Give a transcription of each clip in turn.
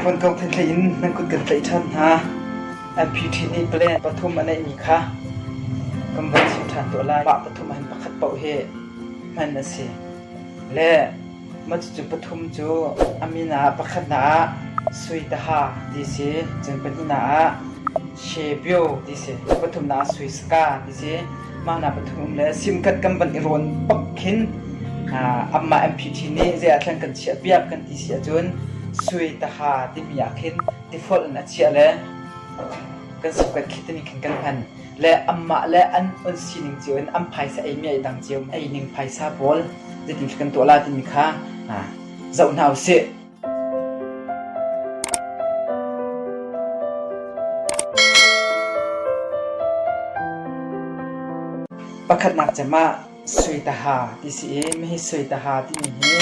Khunkawk thlithlei in nan kut kan tlaih ṭhan hna. MPT nih plan pathum a neihmi kha kan von chim ṭhan tuah lai. Mah pathum ahhin pakhat paoh hi hman a si. Le mah cucu pathum cu a min ah pakhatnak ah Suitaha ti si, cun pahnihnak ah Shebyo ti si, pathumnak ah Suiska ti si. mahnak pathum le simkat kan van i rawn pak khin amah MPT nih zei ah thleng kan chiahpiak kan ti si ahcun sui taha timi ah khin tifolh in a chiah le kan sukat khi tani khin kan hman le amah le an on sining cio in an phaisa ei mi ai dang cio ei ning phaisa pawl zeiti kan tuah la timi kha zoh hna usih Pakhatnak cem ah suitaha ti si i mihi suitaha timi hi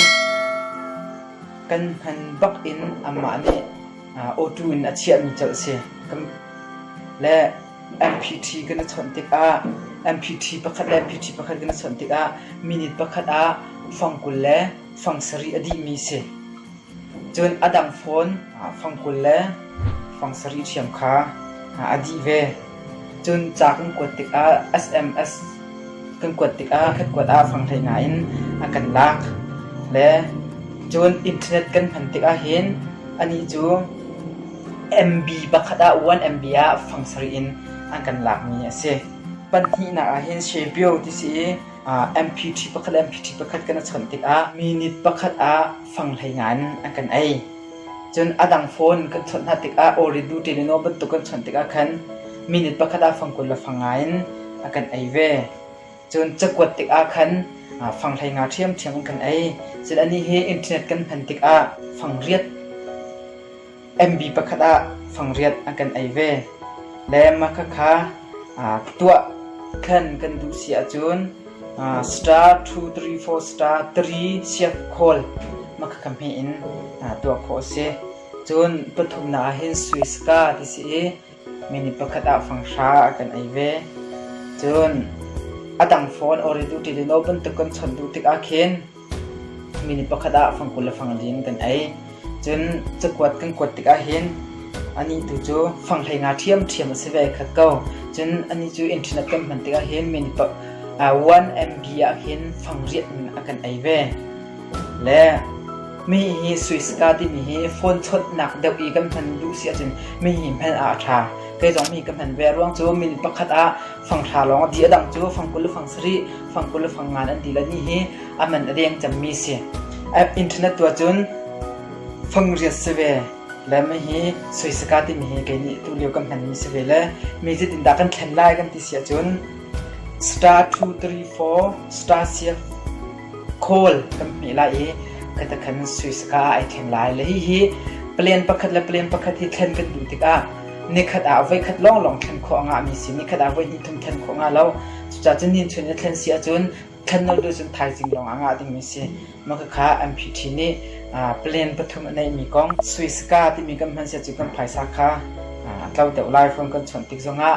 kan hman bak in anmah nih awṭu in a chiahmi colh si. Le MPT kan i chawnh tikah MPT pakhat le MPT pakhat kan i chawnh tikah minute pakhat ah fang kul le fang sarih a dihmi si. Cun a dang fawn fang kul le fang sarih ṭhiam kha a dih ve. Cun ca kan kuat tikah SMS kan kuat tikah kan kuat ah fang hlei ngai in a kan lak le cun internet kan hman tikah hin ani cu MB pakhat ah 1 MB ah fang sarih in an kan lakmi a si. Pahnihnak ah hin Shebio ti si i MPT pakhat le MPT pakhat kan i chon tikah minit pakhat ah fanghlei ngan an kan ei. Cun a dang phone kan chawnh hna tikah Oridu Teleno bantuk kan chawnh tikah khan minit pakhat ah fang kul le fang nga in a kan ei ve. Cun cakuat tikah khan fanghlei nga ṭhiamṭhiam an kan ei. Cun anih hi internet kan hman tikah fang riat MV pakhat ah fangriat an kan ei ve. Le mahka kha tuah thlen kan duh si ahcun star two three four star three siak khawl mahka kha hme in tuah khawh a si. Cun pathumnak ah hin Swiss ka ti si i Minu pakhat ah fanghra a kan ei ve. Cun a dang phone ori duh ṭi le law bantuk kan chawnh duh tikah khin minu pakhat ah fangkul le fanglei in kan ei. Cun cakuat kan kuat tikah hin anih tu cu fanghlei nga ṭhiamṭhiam a si ve khat ko. Cun anih cu internet kan hman tikah hin minu pa, uh, 1 MB ah hin fang riat in a kan ei ve. Le Mi hi Swiska timi hi phone chawnhnak deuh i kan hman duh si ahcun mi hi hmel ah a ṭha. Kei zong mi ka hman ve. Ruang cu min pakhat ah fangthla lawng a di. A dang cu fang kul le fang sarih, fang kul le fang ngan an ti. Lani hi a man a deng cemmi si. App internet tu ahcun fangriat si ve. Le mi hi Swiska timi hi kei nih tulio kan hmanmi si ve le mi zeitindah kan thlen lai kan ti si ahcun star two three four star siak khawl kan hmeh lai i kata khan sui saka ah ai thleng lai. Le hihi palen pakhat le palen pakhat hi thlen kan duh tikah nikhat ah voikhat lawnglawng thlen khawh a ngahmi si, nikhat ah voihnih thum thlen khawh nga lo. Cucaah cun nihin chun i thlen si ahcun thlen lo deuh cun thaizing lawng ah ngah dingmi si. Makhakha MPT nih palen pathum a neihmi kong sui saka timi kan hman si ahcun kan phaisa kha a tlo deuh lai. Fon kan chuan tik zongah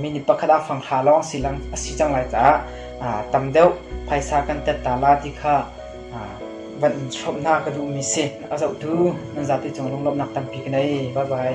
mi ni pakhat ah fanghra lawng si, a si cang lai caah aa tam deuh. Phaisa kan tat ta la ti kha aa van in hrawmhnak ka duhmi si. A zohtu nan zate cung lunglawmhnak tampi ka nei. Bye bye.